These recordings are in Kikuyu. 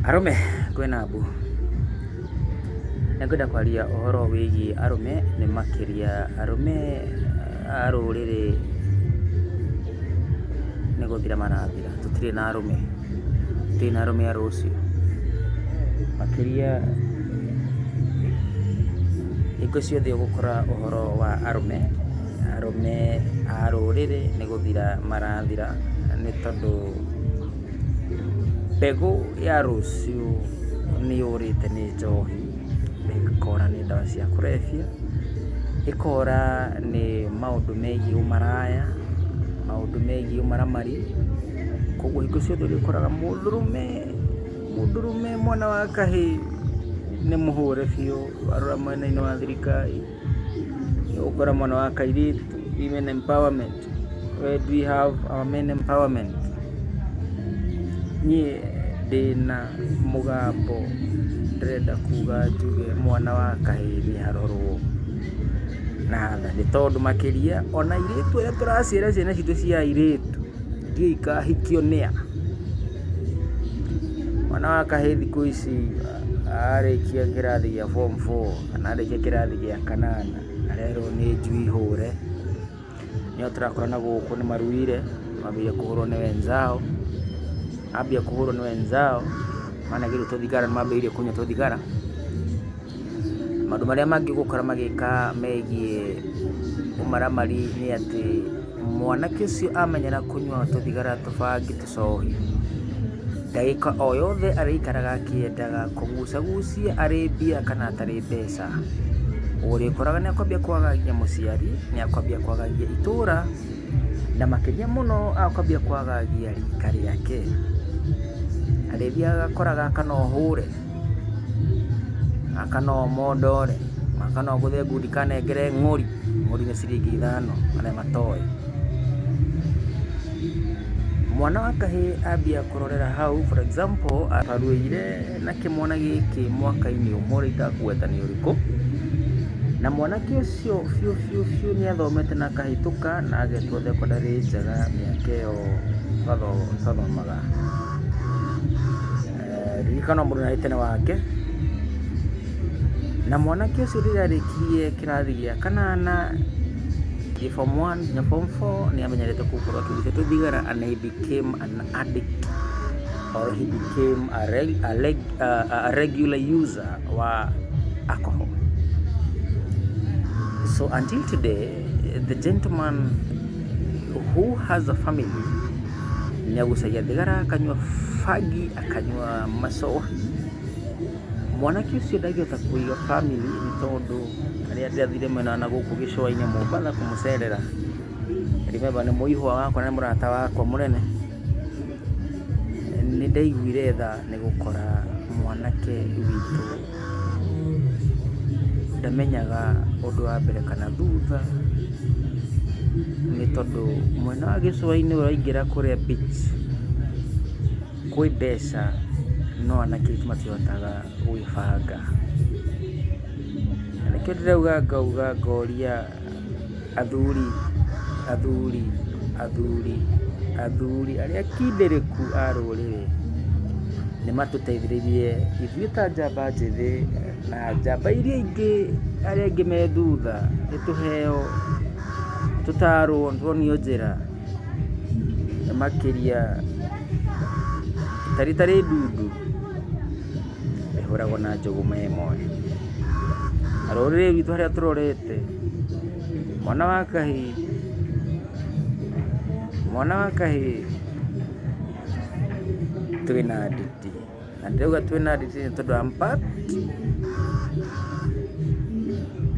Arũme kwĩna mbu. Nĩngwenda kwaria ũhoro wĩgiĩ arũme nĩ makĩria arũme a rũrĩrĩ nĩ gũthira marathira. Tũtirĩ na arũme, tũtirĩ na arũme a rũciũ. Makĩria hingo ciothe ũgũkora ũhoro wa arũme, arũme a rũrĩrĩ nĩ gũthira marathira nĩ tondũ... Mbegũ ya rũciũ nĩ yũrĩte nĩ njohi, ĩkora nĩ ndawa cia kũrebia, ĩkora nĩ maũndũ megiĩ ũmaraya, maũndũ megiĩ ũmaramari, kũguo hingo ciothe ũrĩkoraga mũndũrũme, mũndũrũme mwana wa kahĩĩ nĩ mũhũre biũ warora mwena-inĩ wa thirikari. Nĩ ũgũkora mwana wa kairĩtu, women empowerment, where do we have our men empowerment? Niĩ ndĩna mũgambo ndĩrenda kuga njuge mwana wa kahĩĩ nĩ arorwo na tha, nĩ tondũ makĩria ona airĩtu arĩa tũraciara ciana citũ cia airĩtu ndiũĩ ikahikio nĩ a? Mwana wa kahĩĩ thikũ ici arĩkia kĩrathi gĩa form four Kana arĩkia kĩrathi gĩa kanana arerwo nĩ njui hũre, nĩo tũrakora na gũkũ nĩ maruire mambia kũhũrwo nĩ wenzao, mambia kũhũrwo nĩ wenzao managĩrwo tũthigara nĩmambĩrĩirie kũnyua tũthigara. Maũndũ marĩa mangĩ ũgũkora magĩka megiĩ ũmaramari nĩ atĩ mwanake ũcio amenyera kũnyua tũthigara, tũbangi. Saũlũ. Ndagĩka o yothe arĩikaraga akĩendaga kũgucagucia arĩ mbia kana atarĩ mbeca. Ũrĩkoraga nĩ akwambia kwaga nginya mũciari, nĩ akwambia kwaga nginya itũũra, na makĩria mũno akwambia kwaga nginya rika rĩake. Arĩthiaga agakora gaka no hũre. Gaka no mondore, gaka no ngũre ngundi kanengere ng'ori, ng'ori nĩ ciringi ithano arĩa matoĩ. Mwana wa kahĩĩ ambia kũrorera hau for example aruĩire na kĩmwana gĩkĩ mwaka-inĩ ũmwe rĩu itakũgweta nĩ ũrĩkũ, na mwanake ũcio biũ biũ biũ nĩ athomete na akahĩtũka na agetwo thekondarĩ njega mĩaka ĩyo twathomaga. ririkana mũndũ nĩ arĩ tene wake, na mwanake ũcio rĩrĩa arĩkirie kĩrathi gĩa kanana, gĩ form one nginya form four nĩ amenyerete gũkorwo akĩruta tũthigara and he became an addict or he became a, reg, a, reg, a, a regular user wa alcohol. So until today, the gentleman who has a family nĩ agucagia thigara, akanyua bangi, akanyua macohi. Mwanake ũcio ndangĩhota kũiga famĩlĩ nĩ tondũ rĩrĩa ndathire mwena wa nagũkũ gĩcũa-inĩ Mombatha kũmũcerera, remember nĩ mũihwa wakwa na nĩ mũrata wakwa mũnene, nĩ ndaiguire tha nĩ gũkora mwanake witũ. ndamenyaga ũndũ wa mbere kana thutha, nĩ tondũ mwena wa gĩcũa-inĩ ũraingĩra kũrĩa beach kwĩ mbeca no anake aitũ matihotaga gwĩbanga. Na nĩkĩo ndĩrauga ngauga ngoria... Athuri, athuri, athuri, athuri arĩa akindĩrĩku a rũrĩrĩ, nĩ matũteithĩrĩirie ithuĩ ta njamba njĩthĩ na njamba iria ingĩ arĩa angĩ me thutha, nĩ tũheo, tũtarwo, tuonio njĩra makĩria, ta rita rĩ ndundu. rĩhũragwo na njũgũma ĩmwe. Na rũrĩrĩ rwitũ harĩa tũrorete, mwana wa kahĩĩ, mwana wa kahĩĩ twĩna nditi. Na ndĩrauga twĩna nditi nĩ tondũ I'm part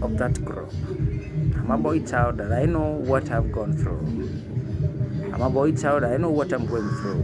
of that group. I'm a boy child and I know what I've gone through. I'm a boy child, I know what I'm going through.